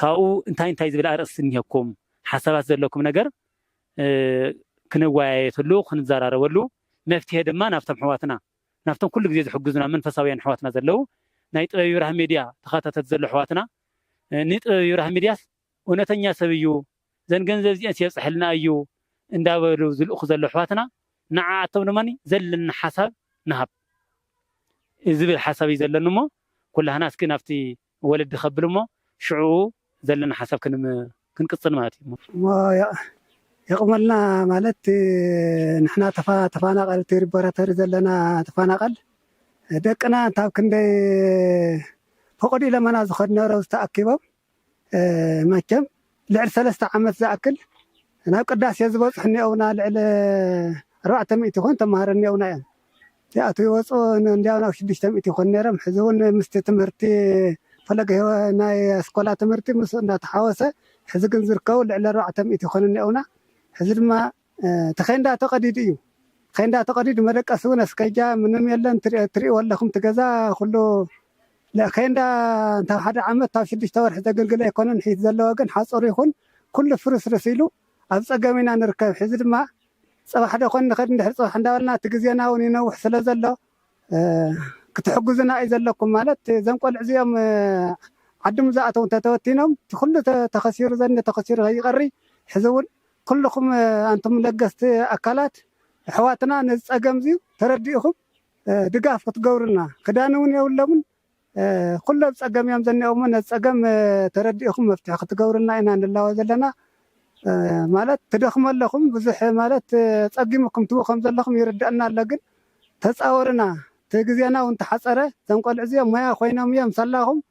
ካብኡ እንታይ እንታይ ዝብል ኣርእስቲ እኒሀኩም ሓሳባት ዘለኩም ነገር ክንወያየትሉ ክንዘራረበሉ መፍትሔ ድማ ናብቶም ኣሕዋትና ናብቶም ኩሉ ግዜ ዝሕግዙና መንፈሳውያን ኣሕዋትና ዘለው ናይ ጥበብ ይብራህ ሚድያ ተኸታተልቲ ዘሎ ኣሕዋትና ንጥበብ ይብራህ ሚድያስ እውነተኛ ሰብ እዩ ዘን ገንዘብ እዚአን የብፅሐልና እዩ እንዳበሉ ዝልእኹ ዘሎ ኣሕዋትና ንዓኣቶም ድማ ዘለና ሓሳብ ንሃብ ዝብል ሓሳብ እዩ ዘለኒ እሞ ኩላህና እስኪ ናብቲ ወለዲ ከብል እሞ ሽዑኡ ዘለና ሓሳብ ክንቅጽል ማለት እዩ። እሞ የቕመልና ማለት ንሕና ተፋናቐልቲ ሪፖራተሪ ዘለና ተፋናቐል ደቅና እንታብ ክንደይ ፎቕድ ኢለመና ዝኸድነረውዝ ተኣኪቦም መቸም ልዕሊ ሰለስተ ዓመት ዝኣክል ናብ ቅዳሴ ዝበጽሑ እኒኦውና ልዕሊ ኣርባዕተ ሚእቲ ይኾኑ ተማሃሮ እኒኦውና እዮም ይኣትዉ ይወጹ እንዲያው ናብ ሽዱሽተ ሚእቲ ይኾኑ ነይሮም ሕዚ እውን ምስቲ ትምህርቲ ፈለገ ህይወ ናይ ኣስኮላ ትምህርቲ ምስኡ እንዳተሓወሰ ሕዚ ግን ዝርከቡ ልዕሊ ኣርባዕተ ሚእቲ ይኾኑ እኒኦውና ሕዚ ድማ እቲ ኼንዳ ተቀዲዱ እዩ ኼንዳ ተቀዲዱ መደቀሲ ውን ኣስከጃ ምንም የለን ትሪእዎ ኣለኹም እቲ ገዛ ኩሉ ኬንዳ እንታብ ሓደ ዓመት እንታብ ሽዱሽተ ወርሒ ዘግልግል ኣይኮነን ሒት ዘለዎ ግን ሓፁር ይኹን ኩሉ ፍርስርስ ኢሉ ኣብ ፀገም ኢና ንርከብ ሕዚ ድማ ፅባሕ ዶ ኮን ንኸድ እንድሕር ፅባሕ እንዳበልና እቲ ግዜና ውን ይነውሕ ስለ ዘሎ ክትሕግዙና እዩ ዘለኩም ማለት ዘም ቆልዑ እዚኦም ዓዲ ምዝኣተው እንተተወቲኖም እቲ ኩሉ ተኸሲሩ ዘኒ ተኸሲሩ ከይቀሪ ሕዚ ውን ኩሉኹም ኣንቱም ለገስቲ ኣካላት ኣሕዋትና ነዚ ጸገምዚ ተረዲእኹም ድጋፍ ክትገብሩልና ክዳን ውን የብሎምን ኩሉ ኣብ ጸገም እዮም ዘኒኦውሞ ነዚ ጸገም ተረዲእኹም መፍትሒ ክትገብሩልና ኢና ንላወ ዘለና ማለት ትደኽሙ ኣለኹም ብዙሕ ማለት ጸጊሙኩም ትብኡ ከም ዘለኹም ይርደኣና ኣሎ ግን ተጻወሩና እቲ ግዜና ውን ተሓጸረ እዞም ቆልዑ እዚኦም ሞያ ኮይኖም እዮም ሳላኹም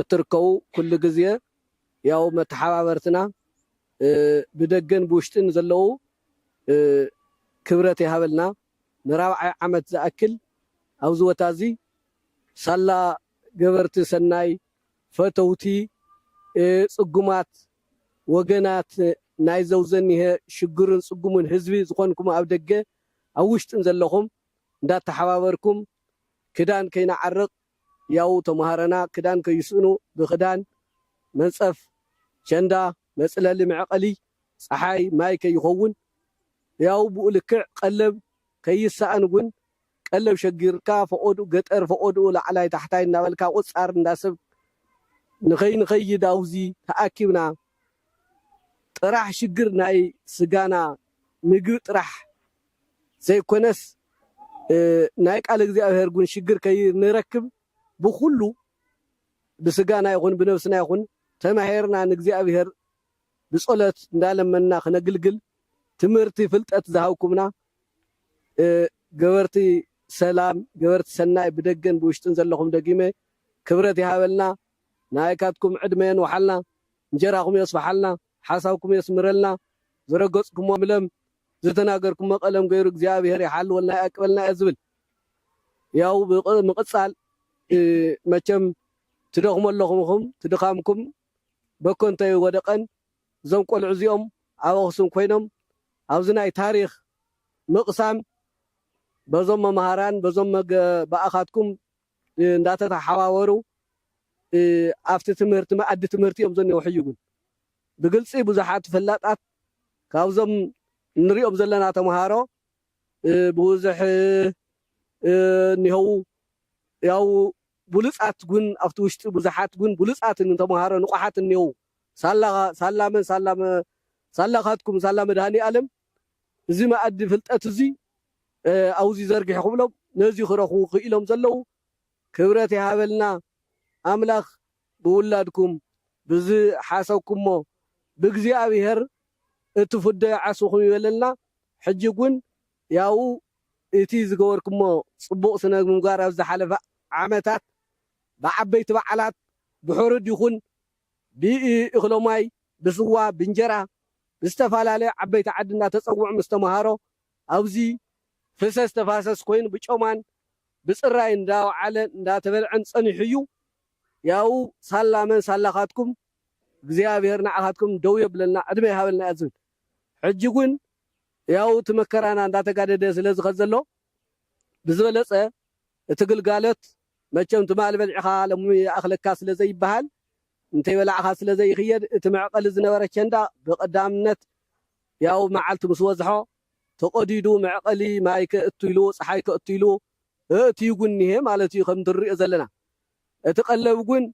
እትርከቡ ኩሉ ግዜ ያው መተሓባበርትና ብደገን ብውሽጥን ዘለዉ ክብረት ይሃበልና ንራብዓይ ዓመት ዝኣክል ኣብዚ ቦታ እዚ ሳላ ገበርቲ ሰናይ ፈተውቲ ጽጉማት ወገናት ናይ ዘውዘኒሀ ሽግሩን ጽጉሙን ህዝቢ ዝኾንኩም ኣብ ደገ ኣብ ውሽጥን ዘለኹም እንዳተሓባበርኩም ክዳን ከይንዓርቕ ህያዉ ተማሃረና ክዳን ከይስእኑ ብክዳን፣ መንጸፍ፣ ቸንዳ፣ መጽለሊ መዕቐሊ ጸሓይ ማይ ከይኸውን ህያዉ ብኡ ልክዕ ቀለብ ከይሰኣን ውን ቀለብ ሸጊርካ ፈቖድኡ ገጠር ፈቖድኡ ላዕላይ ታሕታይ እንዳበልካ ቁጻር እንዳ ሰብ ንኸይንኸይድ ኣውዚ ተኣኪብና ጥራሕ ሽግር ናይ ስጋና ምግቢ ጥራሕ ዘይኮነስ ናይ ቃል እግዚኣብሔር ውን ሽግር ከይንረክብ ብኩሉ ብስጋና ይኩን ብነብስና ይኩን ተማሂርና ንእግዚኣብሔር ብጸሎት እንዳለመንና ክነግልግል ትምህርቲ ፍልጠት ዝሃብኩምና ገበርቲ ሰላም ገበርቲ ሰናይ ብደገን ብውሽጥን ዘለኹም ደጊመ ክብረት ይሃበልና ንኣይካትኩም ዕድመ የንውሓልና እንጀራኹም የስፍሓልና ሓሳብኩም የስምረልና ዝረገጽኩሞ ለም ዝተናገርኩሞ ቀለም ገይሩ እግዚኣብሔር ይሓልወልና ይኣቅበልና እየ ዝብል ያው ምቅፃል መቸም ትደኽሙ ኣለኹም እኹም ትድኻምኩም በኮንቶ ኣይወደቀን እዞም ቆልዑ እዚኦም ኣብ ኣክሱም ኮይኖም ኣብዚ ናይ ታሪኽ ምቅሳም በዞም መምሃራን በዞም ብኣኻትኩም እንዳተተሓባበሩ ኣብቲ ትምህርቲ መኣዲ ትምህርቲ እዮም ዘኔዉ ሕጂ ግን ብግልጺ ብዙሓት ፈላጣት ካብዞም እንሪኦም ዘለና ተምሃሮ ብውዝሕ እኒሀዉ ያው ብሉጻት ግን ኣብቲ ውሽጢ ብዙሓት ግን ብሉጻትን ተምሃሮ ንቑሓት እኒሀዉ ሳላ ሳላ መን ሳላ ሳላኻትኩም ሳላ መድሃኒኣለም እዚ መኣዲ ፍልጠት እዚ ኣውዚ ዘርግሒ ክብሎም ነዚ ክረኽቡ ክኢሎም ዘለዉ ክብረት ይሃበልና ኣምላኽ ብውላድኩም ብዝሓሰብኩሞ ብእግዚኣብሄር እትፍደዩ ዓስብኹም ይበለልና ሕጂ ውን ያኡ እቲ ዝገበርኩሞ ጽቡቕ ስነምግባር ኣብ ዝሓለፈ ዓመታት ብዓበይቲ በዓላት ብሕሩድ ይኹን ብእኽሎማይ ብስዋ ብእንጀራ ብዝተፈላለዩ ዓበይቲ ዓዲ እንዳተጸውዑ ምስ ተማሃሮ ኣብዚ ፍሰስ ተፋሰስ ኮይኑ ብጮማን ብፅራይን እንዳወዓለን እንዳተበልዐን ፀኒሑ እዩ ያኡ ሳላ መን ሳላካትኩም እግዚኣብሔር ናዓካትኩም ደው የብለልና ዕድመ ይሃበልና እያ ዝብል ሕጂ ግን ያኡ እቲ መከራና እንዳተጋደደ ስለ ዝከድ ዘሎ ብዝበለፀ እቲ ግልጋሎት መቸም ትማሊ በልዕካ ሎሚ ይኣክለካ ስለ ዘይበሃል እንተይበላዕካ ስለ ዘይክየድ እቲ መዕቀሊ ዝነበረ ቸንዳ ብቀዳምነት ያው መዓልቲ ምስ ወዝሖ ተቐዲዱ መዕቐሊ ማይ ከእቱ ኢሉ ፀሓይ ከእቱ ኢሉ እእትዩ ጉን እኒሀ ማለት እዩ ከምቲ ንሪኦ ዘለና። እቲ ቀለብ ጉን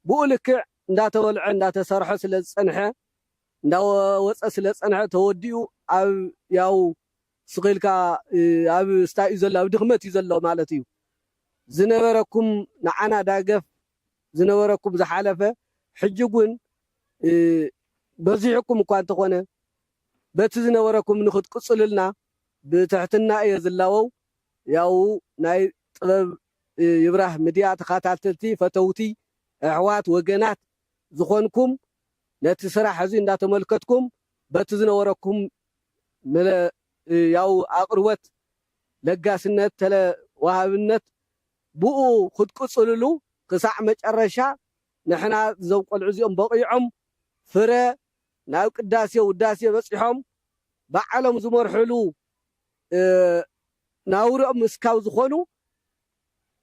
ብኡ ልክዕ እንዳተበልዐ እንዳተሰርሖ ስለ ዝፀንሐ እንዳወፀ ስለ ዝፀንሐ ተወዲኡ ኣብ ያው ስኽ ኢልካ ኣብ ስታይ እዩ ዘሎ ኣብ ድኽመት እዩ ዘሎ ማለት እዩ። ዝነበረኩም ንዓና ዳገፍ ዝነበረኩም ዝሓለፈ ሕጂ ውን በዚሑኩም እኳ እንተኾነ በቲ ዝነበረኩም ንክትቅጽሉልና ብትሕትና እየ ዝላበው ያኡ ናይ ጥበብ ይብራህ ምድያ ተኻታተልቲ ፈተውቲ ኣሕዋት ወገናት ዝኾንኩም ነቲ ስራሕ እዚ እንዳተመልከትኩም በቲ ዝነበረኩም ያኡ ኣቅርቦት ለጋስነት ተለ ዋሃብነት ብኡ ክትቅጽልሉ ክሳዕ መጨረሻ ንሕና እዞም ቆልዑ እዚኦም በቒዖም ፍረ ናብ ቅዳሴ ውዳሴ በጺሖም ባዕሎም ዝመርሑሉ ናውርኦም እስካብ ዝኾኑ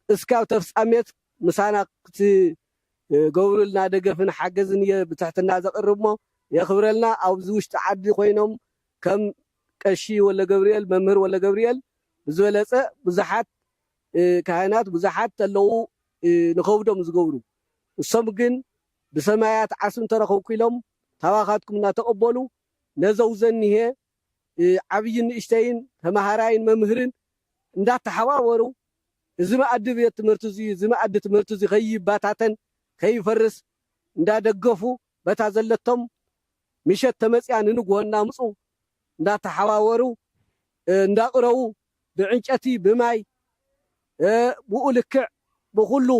እስካብ ተፍጻሜት ምሳና ክትገብሩልና ደገፍን ሓገዝን እየ ብትሕትና ዘቕርብ እሞ የኽብረልና ኣብዚ ውሽጢ ዓዲ ኮይኖም ከም ቀሺ ወልደገብርኤል መምህር ወልደገብርኤል ብዝበለጸ ብዙሓት ካህናት ብዙሓት ተለዉ ንኸብዶም ዝገብሩ እሶም ግን ብሰማያት ዓስቢ እንተረኸብኩ ኢሎም ካባኻትኩም እናተቐበሉ ነዘው ዘኒሀ ዓብይን ንእሽተይን ተመሃራይን መምህርን እንዳተሓባበሩ እዚ መኣዲ ቤት ትምህርቲ እዙይ እዚ መኣዲ ትምህርቲ እዙይ ከይባታተን ከይፈርስ እንዳደገፉ በታ ዘለቶም ምሸት ተመፅያ ንንጉሆ እናምፁ እንዳተሓዋወሩ እንዳቕረቡ ብዕንጨቲ ብማይ ብኡ ልክዕ ብኹሉ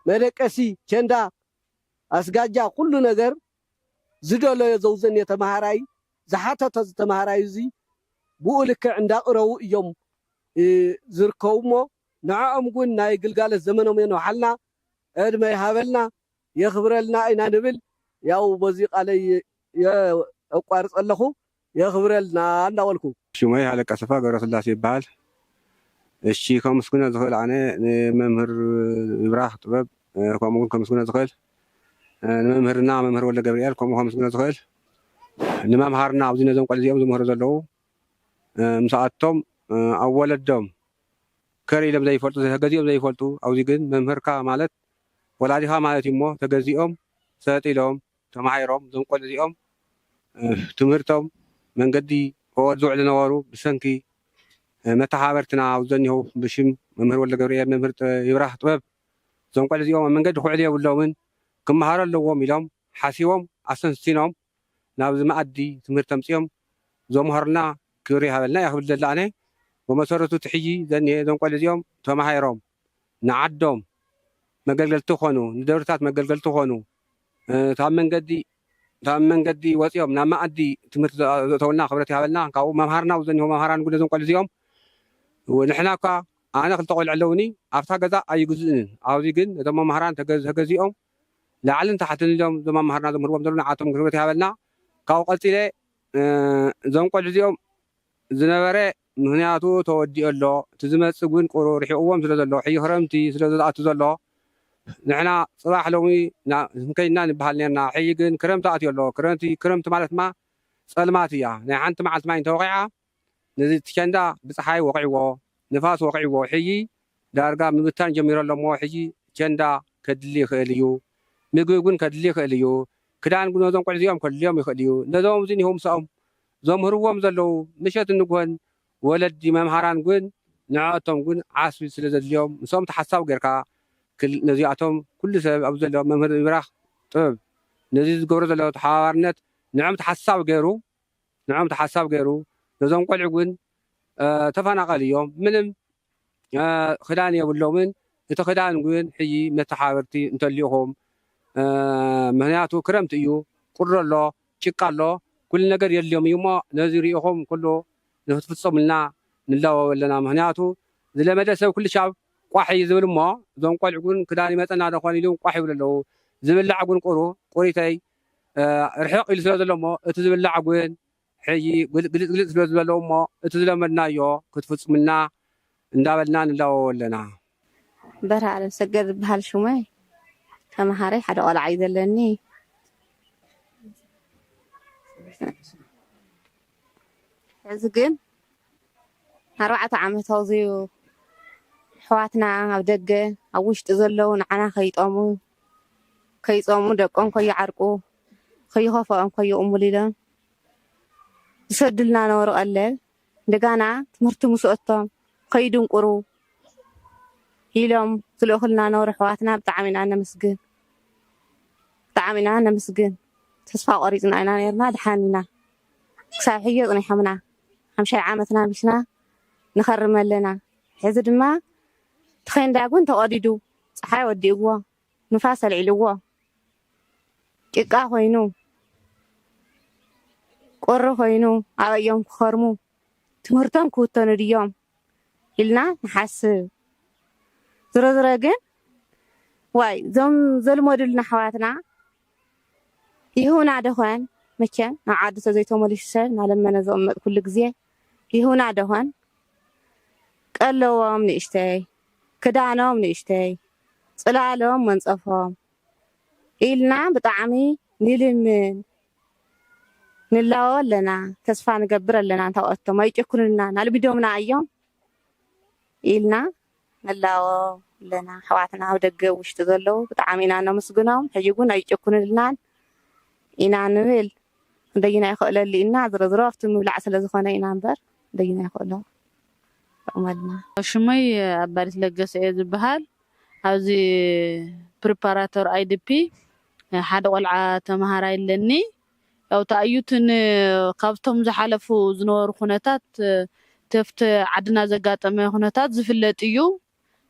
መደቀሲ ቸንዳ ኣስጋጃ ኩሉ ነገር ዝደለዮ ዘውዘኔ ተማሃራይ ዝሓተቶ ዝተማሃራዩ እዚ ብኡ ልክዕ እንዳቕረቡ እዮም ዝርከቡ እሞ ንዐኦም ውን ናይ ግልጋሎት ዘመኖም የንውሓልና ዕድመ ይሃበልና። የኽብረልና ኢና ንብል ያው በዙይ ቃለይ የቋርፅ ኣለኹ የኽብረልና እንዳበልኩ። ሽመይ ሃለቃ ሰፋ ገብረስላሴ ይበሃል እሺ ከሙስግኖ ዝኽእል ኣነ ንመምህር ይብራኽ ጥበብ ከምኡ ውን ከሙስግኖ ዝኽእል ንመምህርና መምህር ወልደገብሪኤል ከምኡ ከሙስግኖ ዝኽእል ንመምሃርና ኣብዚ ነዞም ቆልዑ እዚኦም ዝምህሩ ዘለዉ ምሳኣቶም ኣብ ወለዶም ከር ኢሎም ዘይፈልጡ ገዚኦም ዘይፈልጡ ኣብዚ ግን መምህርካ ማለት ወላዲኻ ማለት እዩ እሞ ተገዚኦም ሰልጢኖም ተማሂሮም እዞም ቆልዑ እዚኦም ትምህርቶም መንገዲ ኦር ዝውዕሉ ነበሩ ብሰንኪ መታሓባበርትና ኣብዚ ዘኒሀው ብሽም መምህር ወልደገብርኤል መምህር ይብራህ ጥበብ እዞም ቆልዑ እዚኦም ኣብ መንገዲ ክውዕሉ የብሎምን ክማሃሩ ኣለዎም ኢሎም ሓሲቦም ኣሰንሲኖም ናብዚ መኣዲ ትምህርቲ ኣምጺኦም ዘምሀሩልና ክብሪ ይሃበልና እየ ክብል ዝደሊ ኣነ በመሰረቱ እቲ ሕጂ ዘኒሀ እዞም ቆልዑ እዚኦም ተማሂሮም ንዓዶም መገልገልቲ ክኮኑ ንደብርታት መገልገልቲ ክኮኑ ካብ መንገዲ ካብ መንገዲ ወጺኦም ናብ መኣዲ ትምህርቲ ዘእተውልና ክብረት ይሃበልና ካብኡ መምሃርና ዘኒሆ መምሃራን እዉን ነዞም ቆልዑ እዚኦም ንሕና እኳ ኣነ ክልተ ቆልዑ ኣለዉኒ ኣብታ ገዛ ኣይግዝእንን ኣብዚ ግን ነቶም መምሃራን ተገዚኦም ላዕልን ታሕትን ኢሎም እዞም ኣማሃርና ዘምህርዎም ዘለዉ ንዓቶም ክብረት ይሃበልና ካብኡ ቀጺለ እዞም ቆልዑ እዚኦም ዝነበረ ምክንያቱ ተወዲኡ ኣሎ እቲ ዝመጽእ ግን ቁሩ ርሒቅዎም ስለ ዘሎ ሕጂ ክረምቲ ስለ ዝኣቱ ዘሎ ንሕና ጽባሕ ሎሚ ክንከይድና ንብሃል ኔርና ሕጂ ግን ክረምቲ ኣትዩ ኣሎ ክረምቲ ክረምቲ ማለት ድማ ጸልማት እያ ናይ ሓንቲ መዓልቲ ማይ እንተወቂዓ ነዚ እቲ ቸንዳ ብጸሓይ ወቒዕዎ ንፋስ ወቒዕዎ ሕጂ ዳርጋ ምብታን ጀሚሩ ኣሎ እሞ ሕጂ ቸንዳ ከድሊ ይኽእል እዩ ምግቢ ውን ከድሊ ይኽእል እዩ ክዳን ውን ነዞም ቆልዑ እዚኦም ከድልዮም ይኽእል እዩ ነዞም ኣብዚ እኒሀው ምሳኦም ዘምህርዎም ዘለዉ ምሸትን ንግሆን ወለዲ መምሃራን ውን ንዐኣቶም ውን ዓስቢ ስለ ዘድልዮም ምስኦም ተሓሳዊ ጌርካ ክል ነዚኣቶም ኩሉ ሰብ ኣብዚ ዘሎ መምህር ይብራኽ ጥበብ ነዚ ዝገብሮ ዘሎ ተሓባባርነት ንዕኦም ተሓሳዊ ጌሩ ንዕኦም ተሓሳብ ገይሩ ነዞም ቆልዑ ግን ተፋናቀል እዮም ምንም ክዳን የብሎምን እቲ ክዳን ግን ሕጂ መተሓበርቲ እንተሊኢኩም ምክንያቱ ክረምቲ እዩ ቁሪ ኣሎ ጭቃ ኣሎ ኩሉ ነገር የድልዮም እዩ እሞ ነዚ ሪኢኩም ኩሉ ንክትፍፀሙልና ንላበው ኣለና ምክንያቱ ዝለመደ ሰብ ኩልሻብ ቋሕ እዩ ዝብል እሞ እዞም ቆልዑ ግን ክዳን ይመፀና ዶ ኮን ኢሉም ቋሕ ይብሉ ኣለው ዝብላዕ ግን ቁሩ ቁሪተይ ርሕቕ ኢሉ ስለ ዘሎ እሞ እቲ ዝብላዕ ውን ሕጂ ግልጽ ግልጽ ስለ ዝበሎ እሞ እቲ ዝለመድናዮ ክትፍጽሙልና እንዳበልና ንላወዎ ኣለና። በርሀ ኣለምሰገድ ዝብሃል ሹመይ ተምሃረይ ሓደ ቆልዓ እዩ ዘለኒ። ሕዚ ግን ኣርባዕተ ዓመት ኣውጺኡ። ኣሕዋትና ኣብ ደገ ኣብ ውሽጢ ዘለዉ ንዓና ከይጠሙ ከይጾሙ ደቆም ከይዓርቁ ከይኸፈኦም ከይቕሙሉ ኢሎም ዝሰዱልና ነበሩ ቀለብ እንደጋና ትምህርቲ ምስ ኣቶም ከይድንቁሩ ኢሎም ዝልእኹልና ነበሩ ኣሕዋትና ብጣዕሚ ኢና ነመስግን ብጣዕሚ ኢና ነመስግን ተስፋ ቆሪጽና ኢና ነርና ድሓን ኢና ክሳብ ሕጂ ኣጽኒሖምና ሓምሻይ ዓመትና ቢስና ንኸርም ኣለና ሕዚ ድማ ተኼንዳጉን ተቐዲዱ ጸሓይ ወዲእዎ፣ ንፋስ ኣልዒልዎ፣ ጭቃ ኮይኑ፣ ቁሪ ኮይኑ ኣበይ'ዮም ክኸርሙ? ትምህርቶም ክውተኑ ድዮም? ኢልና ንሓስብ። ዝሮዝሮ ግን ዋይ እዞም ዘልመዱልና ኣሕዋትና ይህቡና ደኾን? መቸም ናብ ዓዱ ተዘይተመሊሱ ሰብ እናለመነ ዝቕመጥ ኩሉ ግዜ ይህቡና ደኾን? ቀለዎም ንእሽተይ። ክዳኖም ንእሽተይ ጽላሎም መንጸፎም ኢልና ብጣዕሚ ንልምን ንላወ ኣለና ተስፋ ንገብር ኣለና እንተ ኣቶም ኣይጭኩኑልናን ኣልሚዶምና ኣዮም ኢልና ንላወ ኣለና ኣሕዋትና ኣብ ደገ ኣብ ውሽጢ ዘለዉ ብጣዕሚ ኢና ነምስግኖም ሕጂ ግን ኣይጭኩኑልናን ኢና ንብል ክንደይና ይክእለሉ ኢና ዝሮዝሮ ኣብቲ ምብላዕ ስለ ዝኮነ ኢና እምበር ክንደይና ይክእሎ። ይጠቕመልና። ሽመይ ኣባዲት ለገሰ እየ ዝብሃል ኣብዚ ፕሪፓራቶር IDP ሓደ ቆልዓ ተምሃራይ ኣለኒ ያው ተኣዩት ን ካብቶም ዝሓለፉ ዝነበሩ ኩነታት ተፍት ዓድና ዘጋጠመ ኩነታት ዝፍለጥ እዩ።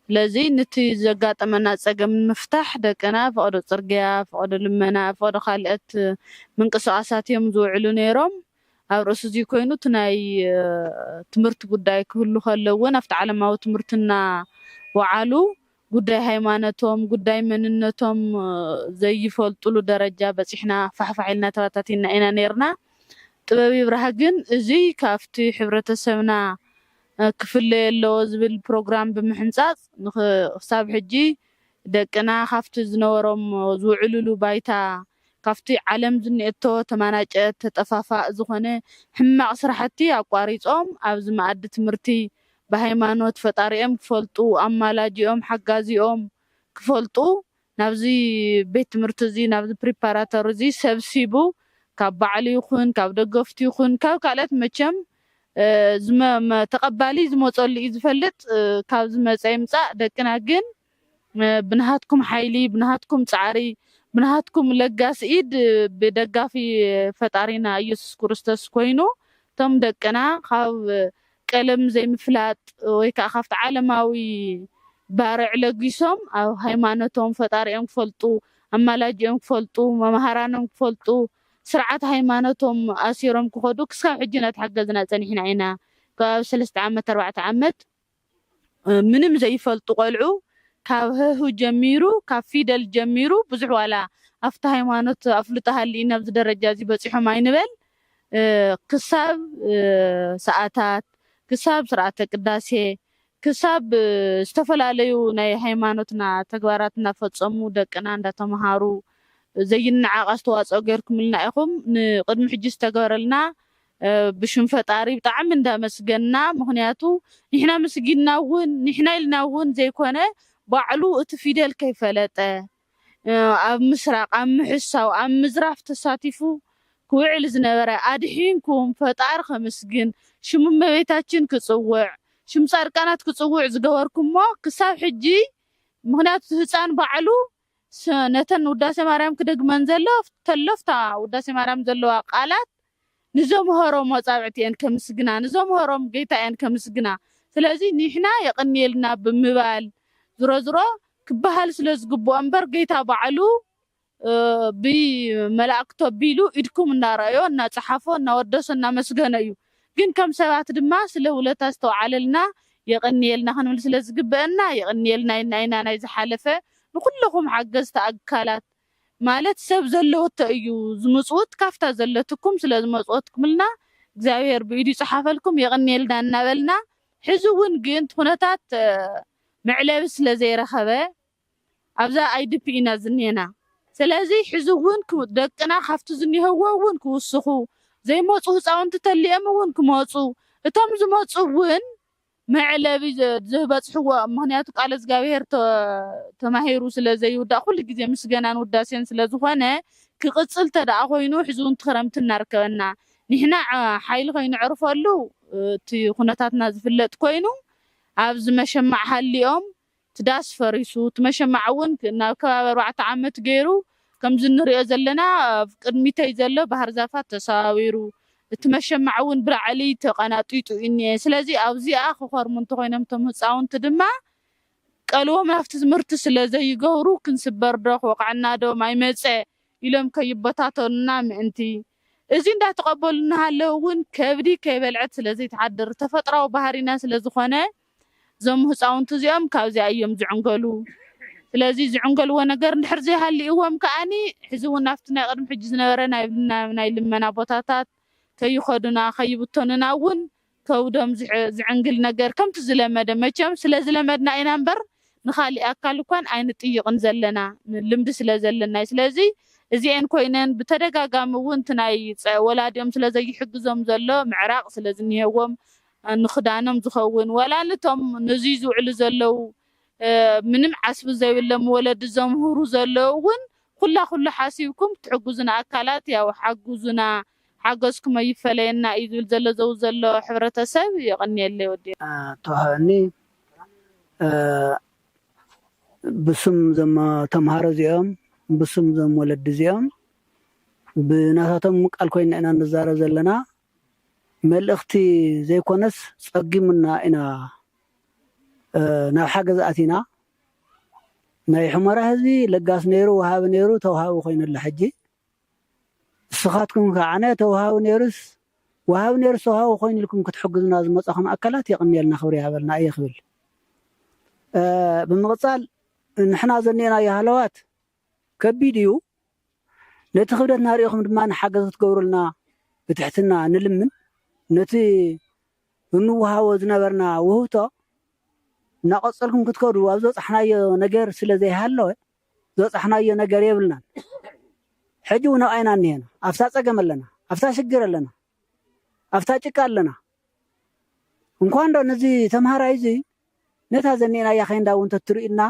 ስለዚ ንቲ ዘጋጠመና ጸገም ንምፍታሕ ደቅና ፈቐዶ ጽርግያ፣ ፈቐዶ ልመና፣ ፈቐዶ ካልኦት ምንቅስቓሳት እዮም ዝውዕሉ ነይሮም። ኣብ ርእሲ'ዚ ኮይኑ እቲ ናይ ትምህርቲ ጉዳይ ክህሉ ከሎ እውን ኣብቲ ዓለማዊ ትምህርቲ እናወዓሉ ጉዳይ ሃይማኖቶም፣ ጉዳይ መንነቶም ዘይፈልጡሉ ደረጃ በጺሕና ፋሕፋሕ ኢልና ተበታቲንና ኢና ነይርና። ጥበብ ይብራህ ግን እዚ ካብቲ ሕብረተሰብና ክፍለዮ ኣለዎ ዝብል ፕሮግራም ብምሕንጻጽ ንክሳብ ሕጂ ደቅና ካብቲ ዝነበሮም ዝውዕሉሉ ባይታ ካብቲ ዓለም ዝኒኤቶ ተማናጨት ተጠፋፋእ ዝኾነ ሕማቕ ስራሕቲ ኣቋሪጾም ኣብዚ መኣዲ ትምህርቲ ብሃይማኖት ፈጣሪኦም ክፈልጡ ኣማላጂኦም ሓጋዚኦም ክፈልጡ ናብዚ ቤት ትምህርቲ እዚ ናብዚ ፕሪፓራቶሪ እዚ ሰብሲቡ ካብ ባዕሉ ይኹን ካብ ደገፍቱ ይኹን ካብ ካልኦት መቸም ተቐባሊ ዝመጸሉ እዩ ዝፈልጥ ካብ ዝመጸ ይምጻእ ደቅና ግን ብናሃትኩም ሓይሊ ብናሃትኩም ጻዕሪ ብናሃትኩም ለጋስ ኢድ ብደጋፊ ፈጣሪና ኢየሱስ ክርስቶስ ኮይኑ እቶም ደቅና ካብ ቀለም ዘይምፍላጥ ወይ ከኣ ካብቲ ዓለማዊ ባርዕ ለጊሶም ኣብ ሃይማኖቶም ፈጣሪኦም ክፈልጡ፣ ኣማላጅኦም ክፈልጡ፣ መማህራኖም ክፈልጡ ስርዓት ሃይማኖቶም ኣሲሮም ክኸዱ ክስካብ ሕጂ እናተሓገዝና ጸኒሕና ኢና። ከባቢ ሰለስተ ዓመት ኣርባዕተ ዓመት ምንም ዘይፈልጡ ቆልዑ ካብ ሀ ሁ ጀሚሩ ካብ ፊደል ጀሚሩ ብዙሕ ዋላ ኣብቲ ሃይማኖት ኣፍልጦ ሃሊኡኒ ኣብዚ ደረጃ እዚ በጺሖም ኣይንበል ክሳብ ሰኣታት፣ ክሳብ ስርዓተ ቅዳሴ፣ ክሳብ ዝተፈላለዩ ናይ ሃይማኖትና ተግባራት እናፈፀሙ ደቅና እንዳተምሃሩ ዘይነዓቕ ኣስተዋፅኦ ገይርኩምልና ኢኹም። ንቕድሚ ሕጂ ዝተገበረልና ብሽም ፈጣሪ ብጣዕሚ እንዳመስገንና ምኽንያቱ ንሕና ምስጊንና እውን ንሕና ኢልና እውን ዘይኮነ ባዕሉ እቲ ፊደል ከይፈለጠ፣ ኣብ ምስራቅ ኣብ ምሕሳው ኣብ ምዝራፍ ተሳቲፉ ክውዕል ዝነበረ ኣድሒንኩም ፈጣሪ ከምስግን ሽም እመቤታችን ክጽውዕ ሽም ጻድቃናት ክጽውዕ ዝገበርኩሞ ክሳብ ሕጂ ምክንያቱ እቲ ህጻን ባዕሉ ነተን ውዳሴ ማርያም ክደግመን ዘሎ ተሎፍታ ውዳሴ ማርያም ዘለዋ ቃላት ንዘምሀሮም ኣጻብዕቲ እየን ከምስግና ንዘምሀሮም ገይታ እየን ከምስግና ስለዚ ኒሕና የቅንየልና ብምባል ዝሮዝሮ ክባሃል ስለ ዝግብኦ እምበር ገይታ ባዕሉ ብ መላእክቱ ኣቢሉ ኢድኩም እናረኣዮ እናጸሓፎ እናወደሶ እናመስገኖ እዩ ግን ከም ሰባት ድማ ስለ ውለታ ዝተውዓለልና የቅንየልና ክንብል ስለ ዝግበእና የቅንየልና ኢልና ኢና ናይ ዝሓለፈ ንኩለኩም ሓገዝቲ ኣካላት ማለት ሰብ ዘለወቶ እዩ ዝምጽውት ካፍታ ዘለትኩም ስለ ዝመጽወትኩምልና እግዚኣብሔር ብኢዱ ይጽሓፈልኩም የቕንየልና እናበልና ሕዚ እውን ግን ትኹነታት መዕለቢ ስለ ዘይረኸበ ኣብዛ ኣይድፒ ኢና ዝኔና ሰለዚ ሕዚ እውን ደቅና ካፍቲ ዝኔህዎ እውን ክውስኹ ዘይመጹ ህጻውንቲ ተሊኦም እውን ክመጹ እቶም ዝመጹ እውን መዕለቢ ዘህበጽሕዎ ምክንያቱ ቃለ እዝጋብሄር ተማሂሩ ስለ ዘይውዳእ ኩሉ ግዜ ምስገናን ውዳሴን ስለ ዝኮነ ክቅጽል ተደኣ ኮይኑ ሕዚ ውን እቲ ክረምቲ እናርከበና ንሕና ሓይሊ ከይነዕርፈሉ እቲ ኩነታትና ዝፍለጥ ኮይኑ ኣብዚ መሸማዕ ሃሊኦም እቲ ዳስ ፈሪሱ እቲ መሸማዕ እውን ናብ ከባቢ ኣርባዕተ ዓመት ገይሩ ከምዚ እንሪኦ ዘለና ኣብ ቅድሚተይ ዘሎ ባህርዛፋት ተሰባቢሩ እቲ መሸማዕ እውን ብላዕሊ ተቀናጢጡ ኢኒኤ ስለዚ ኣብዚኣ ክከርሙ እንተኮይኖም እቶም ህፃውንቲ ድማ ቀልቦም ናብቲ ትምህርቲ ስለ ዘይገብሩ ክንስበር ዶ ክወቅዐና ዶ ማይ መፀ ኢሎም ከይበታተኑና ምእንቲ እዚ እንዳተቀበሉ እናሃለዉ እውን ከብዲ ከይበልዐት ስለ ዘይትሓድር ተፈጥራዊ ባህሪና ስለ ዝኮነ እዞም ህፃውንቲ እዚኦም ካብዚኣ እዮም ዝዕንገሉ። ስለዚ ዝዕንገልዎ ነገር እንድሕር ዘይሃሊእዎም ከኣ ሕዚ እውን ናብቲ ናይ ቅድሚ ሕጂ ዝነበረ ናይ ልመና ቦታታት ከይኸዱና ከይብተኑና እውን ከብዶም ዝዕንግል ነገር ከምቲ ዝለመደ መቸም ስለዝለመድና ኢና እምበር ንኻሊእ ኣካል እኳን ኣይንጥይቕን ዘለና ልምዲ ስለዘለና እዩ። ስለዚ እዚኤን ኮይነን ብተደጋጋሚ እውን እቲ ናይ ወላዲኦም ስለዘይሕግዞም ዘሎ ምዕራቕ ስለዝኒሀዎም ንክዳኖም ዝኸውን ዋላ ንቶም ንዙይ ዝውዕሉ ዘለው ምንም ዓስቢ ዘይብሎም ወለዲ ዘምህሩ ዘለው እውን ኩላ ኩሉ ሓሲብኩም ትሕግዙና ኣካላት ያው ሓግዙና ሓገዝኩም ኣይፈለየና እዩ ዝብል ዘሎ ዘው ዘሎ ሕብረተሰብ የቐንየለይ ወዲ ኣቶ ሃኒ ብስም ዘም ተምሃሮ እዚኦም ብስም ዘም ወለዲ እዚኦም ብናታቶም ቃል ኮይና ኢና ንዛረብ ዘለና መልእኽቲ ዘይኮነስ ጸጊሙና ኢና ናብ ሓገዝ ኣቲና ናይ ሑመራ ህዝቢ ለጋስ ነይሩ ወሃቢ ነይሩ ተውሃቢ ኮይኑ ኣሎ ሕጂ ንስኻትኩም ከዓነ ተውሃቢ ነይሩስ ወሃቢ ነይሩስ ተውሃቢ ኮይኑ ኢልኩም ክትሕግዙና ዝመጻኹም ኣካላት የቕንየልና ክብሪ ይሃበልና እየ ክብል ብምቕጻል ንሕና ዘኒኤናዮ ሃለዋት ከቢድ እዩ ነቲ ክብደትና ሪኢኹም ድማ ሓገዝ ክትገብሩልና ብትሕትና ንልምን ነቲ እንወሃቦ ዝነበርና ውህብቶ እናቐጸልኩም ክትከዱ ኣብ ዝበጻሕናዮ ነገር ስለ ዘይሃለወ ዝበጻሕናዮ ነገር የብልናን ሕጂ እውን ኣብኣ ኢና እኒሀና ኣብታ ጸገም ኣለና ኣብታ ሽግር ኣለና ኣብታ ጭቃ ኣለና እንኳን ዶ ነዚ ተምሃራይ እዚ ነታ ዘኒኤናያ ኬንዳ እውን ተትርእዩና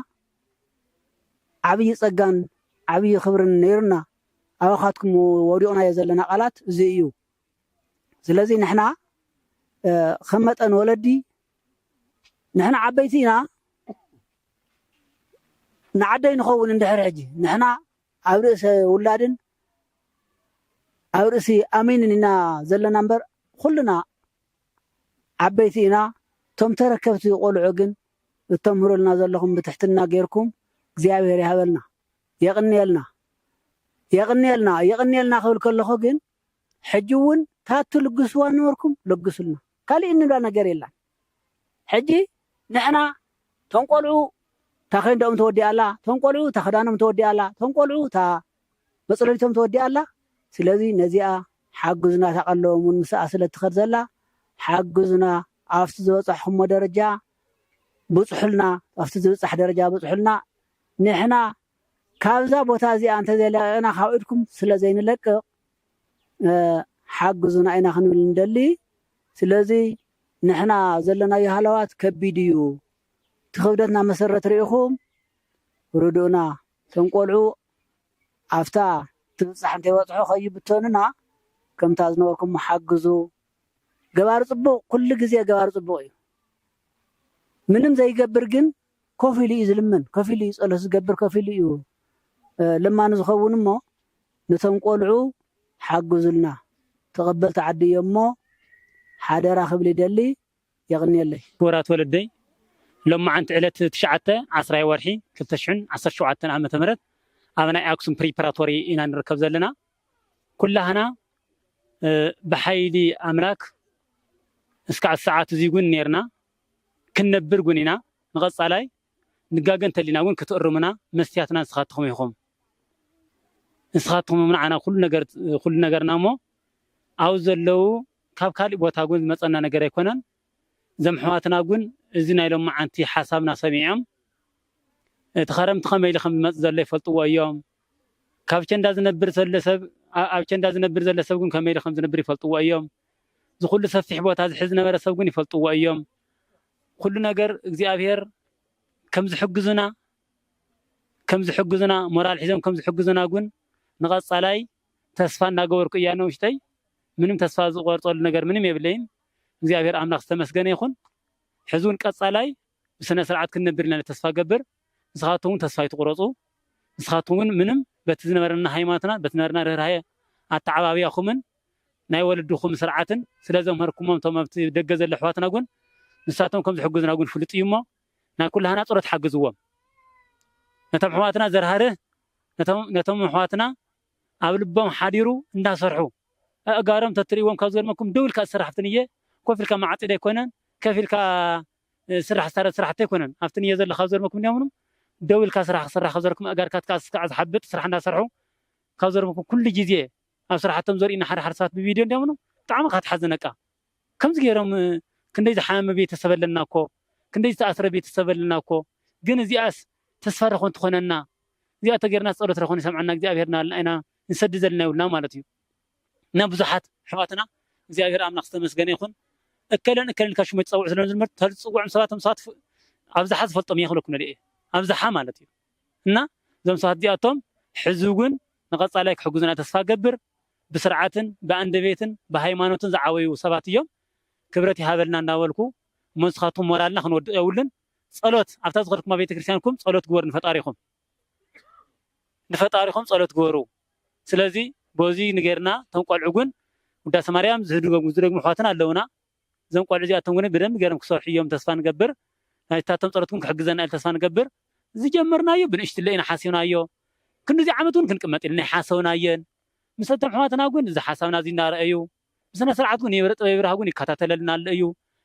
ዓብይ ጸጋን ዓብይ ክብርን ነይሩና ኣባኻትኩም ወዲቕናዮ ዘለና ቃላት እዚ እዩ ስለዚ ንሕና ከም መጠን ወለዲ ንሕና ዓበይቲ ኢና ንዓደይ ንኸውን እንድሕር ሕጂ ንሕና ኣብ ርእሰ ውላድን ኣብ ርእሲ ኣሚንን ኢና ዘለና እምበር ኩልና ዓበይቲ ኢና እቶም ተረከብቲ ቆልዑ ግን እተምህሩልና ዘለኹም ብትሕትና ጌርኩም እግዚኣብሄር ይሃበልና የቕንየልና የቕንየልና የቕንየልና ክብል ከለኹ ግን ሕጂ እውን እታ እትልግስዋ ነበርኩም ለግሱልና ካሊእ እንብላ ነገር የላን ሕጂ ንሕና እቶም ቆልዑ እታ ኬንደኦም ተወዲኣ ኣላ እቶም ቆልዑ እታ ክዳኖም ተወዲኣ ኣላ እቶም ቆልዑ እታ መጽለሊቶም ተወዲኣ ኣላ ስለዚ ነዚኣ ሓግዙና እታ ቀለቦም ውን ምስኣ ስለ ትከድ ዘላ ሓግዙና ኣብቲ ዝበጻሕኩሞ ደረጃ ብጽሑልና ኣብቲ ዝብጻሕ ደረጃ ብጽሑልና ንሕና ካብዛ ቦታ እዚኣ እንተዘይለቂቅና ካብ ኢድኩም ስለ ዘይንለቅቅ ሓግዙና ኢና ክንብል ንደሊ ስለዚ ንሕና ዘለናዮ ሃለዋት ከቢድ እዩ እቲ ክብደትና መሰረት ሪኢኩም ርድኡና እቶም ቆልዑ ኣፍታ ትብጻሕ እንተይበጽሑ ከይብተኑና ከምታ ዝነበርኩሞ ሓግዙ ገባሪ ጽቡቅ ኩሉ ግዜ ገባሪ ጽቡቅ እዩ ምንም ዘይገብር ግን ኮፍ ኢሉ እዩ ዝልምን ኮፍ ኢሉ እዩ ጸሎት ዝገብር ኮፍ ኢሉ እዩ ለማኒ ዝኸውን እሞ ነቶም ቆልዑ ሓግዙልና ተቀበልቲ ዓዲ እዮምሞ ሓደራ ክብል ይደሊ። የቕንየለይ። ክቡራት ወለደይ ሎምዓንቲ ዕለት ትሽዓተ ዓስራይ ወርሒ ክልተ ሽሕን ዓሰርተ ሸውዓተን ዓመተ ምህረት ኣብ ናይ ኣክሱም ፕሪፓራቶሪ ኢና ንርከብ ዘለና ኩላህና ብሓይሊ ኣምላክ እስካዕ ሰዓት እዙይ ጉን ነይርና ክንነብር ጉን ኢና ንቐፃላይ ንጋገ እንተሊና እውን ክትእርሙና መስትያትና ንስኻትኹም ኢኹም ንስኻትኹም ንዓና ኩሉ ነገርና እሞ ኣብኡ ዘለው ካብ ካሊእ ቦታ ውን ዝመፀና ነገር ኣይኮነን እዞም ኣሕዋትና ውን እዚ ናይ ሎማዓንቲ ሓሳብና ሰሚዖም እቲ ኸረምቲ ከመይ ኢሉ ከምዝመፅእ ዘሎ ይፈልጥዎ እዮም ካብ ቸንዳ ዝነብር ዘሎ ሰብ ኣብ ቸንዳ ዝነብር ዘሎ ሰብ ውን ከመይ ኢሉ ከምዝነብር ይፈልጥዎ እዮም እዚ ኩሉ ሰፊሕ ቦታ ዝሕዝ ዝነበረ ሰብ ውን ይፈልጥዎ እዮም ኩሉ ነገር እግዚኣብሄር ከምዝሕግዙና ከምዝሕግዙና ሞራል ሒዞም ከምዝሕግዙና ውን ንቐፃላይ ተስፋ እናገበርኩ እያ ንውሽጠይ ምንም ተስፋ ዝቆርፀሉ ነገር ምንም የብለይን እግዚኣብሔር ኣምላክ ዝተመስገነ ይኩን ሕዚ እውን ቀፃላይ ብስነ ስርዓት ክንነብር ኢና ተስፋ ገብር ንስካትኩም እውን ተስፋ ኣይትቁረፁ ንስካትኩም እውን ምንም በቲ ዝነበረና ሃይማኖትና በቲ ዝነበረና ርህራሄ ኣተዓባብያኩምን ናይ ወለድኩም ስርዓትን ስለ ዘምሀርኩሞም እቶም ኣብቲ ደገ ዘሎ ኣሕዋትና እውን ንሳቶም ከም ዝሕግዙና እውን ፍሉጥ እዩ እሞ ናይ ኩላህና ፀሎት ሓግዝዎም ነቶም ኣሕዋትና ዘርሃርህ ነቶም ኣሕዋትና ኣብ ልቦም ሓዲሩ እንዳሰርሑ ኣእጋሮም ተትርእይዎም ካብ ዝገርመኩም ደው ኢልካ ዝስራሕ ኣብቲ ንየ ኮፍ ኢልካ ማዓጺድ ኣይኮነን ከፍ ኢልካ ዝስራሕ ዝሳረድ ስራሕቲ ኣይኮነን ኣብቲ ንየ ዘሎ ካብ ዝገርመኩም እንዲምኑ ደው ኢልካ ስራሕ ክስራሕ ካብ ዝገርኩም ኣእጋርካ ትካዕ ስካዕ ዝሓብጥ ስራሕ እንዳሰርሑ ካብ ዝገርመኩም ኩሉ ግዜ ኣብ ስራሕቶም ዘርእዩና ሓደ ሓደ ሰባት ብቪድዮ እንዲምኑ ብጣዕሚ እካ ትሓዝን እቃ ከምዚ ጌሮም ክንደይ ዝሓመመ ቤተሰብ ኣለና እኮ ክንደይ ዝተኣስረ ቤተሰብ ኣለና እኮ ግን እዚኣስ ተስፋ ዶ ኮን ትኮነና እዚኣ ተገርናስ ጸሎት ዶ ኮን ይሰምዓና እግዚኣብሄር ናበልና ኢና ንሰዲ ዘለና ይብሉና ማለት እዩ እና ብዙሓት ኣሕዋትና እግዚኣብሄር ኣምላኽ ዝተመስገነ ይኩን እከለን እከለን ኢልካ ሽሞች ጸውዑ ስለ ዝምበር ተል ዝጽውዑም ሰባት እቶም ሰባት ኣብዝሓ ዝፈልጦም እየ ክብለኩም ደልየ ኣብዝሓ ማለት እዩ እና እዞም ሰባት እዚኣቶም ሕዚ እውን ንቀጻላይ ክሕግዙና ተስፋ ገብር ብስርዓትን ብኣንደቤትን ብሃይማኖትን ዝዓበዩ ሰባት እዮም ክብረት ይሃበልና እንዳበልኩ እሞ ንስኻትኩም ሞራልና ክንወድቅ የብሉን ጸሎት ኣብታ ዝኸድኩማ ቤተክርስትያንኩም ጸሎት ግበሩ ንፈጣሪኹም ንፈጣሪኹም ጸሎት ግበሩ ስለዚ በዙይ ንገርና እቶም ቆልዑ ግን ውዳሰ ማርያም ዝህድገሙ ዝደግሙ ኣሕዋትና ኣለውና እዞም ቆልዑ እዚኣቶም ግን ብደንቢ ገይሮም ክሰርሑ እዮም ተስፋ ንገብር ናይታቶም ጸሎት ግን ክሕግዘና ኢሉ ተስፋ ንገብር ዝጀመርናዮ ብንእሽትለ ኢና ሓሲብናዮ ክንድዚ ዓመት እውን ክንቅመጥ ኢልና ኣይሓሰብናዮን ምስ ኣቶም ኣሕዋትና ውን እዚ ሓሳብና እዚ እናረኣዩ ብስነ ስርዓት ውን የብረ ጥበብ የብርሃ ውን ይከታተለልና ኣሎ እዩ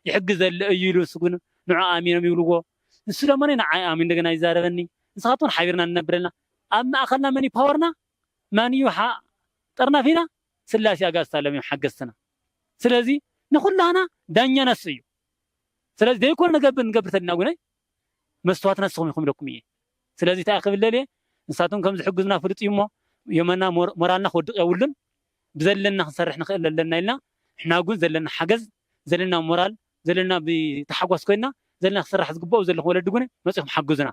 ይሕግዝ ዘሎ እዩ ኢሉ ንሱ ውን ንዑ ኣሚኖም ይብልዎ ንሱ ደሞ ንዓይ ኣሚኑ እንደገና ይዛረበኒ ንስካ ትኩን ሓቢርና ንነብር ኣለና ኣብ ማእከልና መን እዩ ፓወርና ማን እዩ ጠርናፊና ስላሴ ኣጋእዝት ኣለም እዮም ሓገዝትና ስለዚ ንኩላህና ዳኛ ነሱ እዩ ስለዚ ዘይኮነ ንገብር ንገብር ተሊና ውን ኣይ መስትዋትና ንስኹም ኢኹም ኢለኩም እየ ስለዚ ታይ ክብል ደልየ ንሳቶም ከም ዝሕግዙና ፍሉጥ እዩ እሞ የመና ሞራልና ክወድቕ የብሉን ብዘለና ክንሰርሕ ንኽእል ኣለና ኢልና ንሕና ግን ዘለና ሓገዝ ዘለና ሞራል ዘለና ብታሓጓስ ኮይና ዘለና ክስራሕ ዝግበኦ ዘለኹም ወለዲ ግን መፂኹም ሓግዙና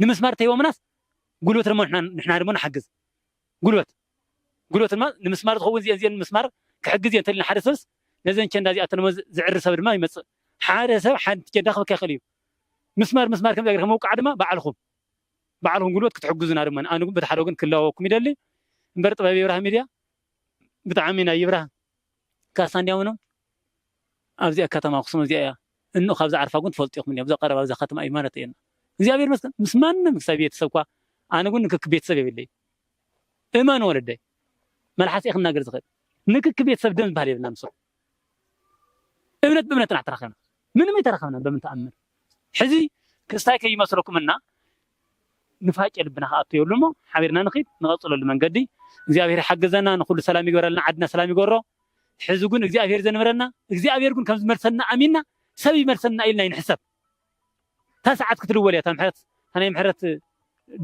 ንምስማር ተይቦሙናስ ጉልበት ደሞ ንሕና ደሞ ንሓግዝ ጉልበት ጉልበት ድማ ንምስማር ዝኸውን እዚኤን እዚኤን ንምስማር ክሕግዝ እየ እንተሊና ሓደ ሰብስ ነዘን ቸንዳ እዚኣተን ዝዕሪ ሰብ ድማ ይመፅእ። ሓደ ሰብ ሓንቲ ቸንዳ ክበካ ይኽእል እዩ። ምስማር ምስማር ከምዚኣ ጌርካ ምውቃዕ ድማ ባዕልኹም ባዕልኹም ጉልበት ክትሕግዙና ድማ ኣነ እውን በቲ ሓደ ወገን ክለዋወኩም ይደሊ። እምበር ጥበብ ይብራህ ሚድያ ብጣዕሚ ናይ ይብራህ ካሳ እንዲያምኖ ኣብዚኣ ከተማ ኣክሱም እዚኣ እያ እንኡ ካብ ዝዓርፋ ግን ትፈልጡ ኢኹም እኒኣ ብዛ ቀረባ ብዛ ከተማ እዩ ማለት እየና እግዚኣብሔር ይመስገን ምስ ማንም ክሳብ ቤተሰብ እኳ ኣነ ግን ንክክ ቤተሰብ የብለይ እመን ወለደይ መልሓስ እየ ክናገር ዝክእል ንክክ ቤተሰብ ደም ዝባሃል የብልና ምስ እምነት ብእምነት ኢና ተራከብና ምንም ኣይተራከብና በምን ተኣምር ሕዚ ክስታይ ከይመስለኩም እና ንፋቄ ልብና ክኣቶ የብሉ እሞ ሓቢርና ንክድ ንቐፅለሉ መንገዲ እግዚኣብሔር ይሓግዘና ንኩሉ ሰላም ይግበረልና ዓድና ሰላም ይገሮ ሕዚ ግን እግዚኣብሔር ዘንበረና እግዚኣብሔር ግን ከም ዝመልሰና ኣሚንና ሰብ ይመልሰና ኢልና ይንሕሰብ እታ ሰዓት ክትድወል እያ እታ ምሕረት እታ ናይ ምሕረት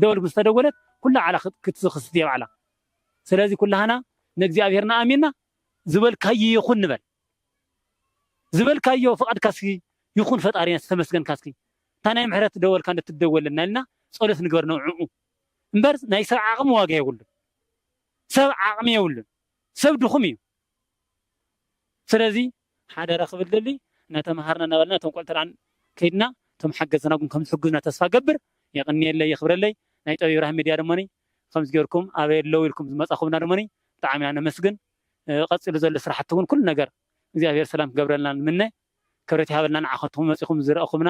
ደወል ምስ ተደወለት ኩላ ባዕላ ክትክስት እያ ባዕላ ስለዚ ኩላህና ንእግዚኣብሔርና ኣሚንና ዝበልካዮ ይኹን ንበል ዝበልካዮ ፍቃድካ እስኪ ይኹን ፈጣሪና እስኪ ተመስገንካ እስኪ እታ ናይ ምሕረት ደወልካ እንደ ትደወለልና ኢልና ጸሎት ንግበር ንዕዑ እምበር ናይ ሰብ ዓቕሚ ዋጋ የብሉን ሰብ ዓቕሚ የብሉን ሰብ ድኹም እዩ ስለዚ ሓደራ ክብል ዝደሊ ናተመሃርና ናበልና እቶም ቆልዑ ተራ ከይድና እቶም ሓገዝትና ውን ከምዝሕጉዝና ተስፋ እገብር የቅንየለይ የክብረለይ ናይ ጠቢብ ብርሃን ሚድያ ደሞኒ ከምዚ ገርኩም ኣበይ ኣለው ኢልኩም ዝመፃኩምና ደሞኒ ብጣዕሚ ኢና ነመስግን ቀፂሉ ዘሎ ስራሕቲ ውን ኩሉ ነገር እግዚኣብሔር ሰላም ክገብረልና ንምነ ክብረት ይሃበልና ንዓከትኩም መፂኩም ዝረእኩምና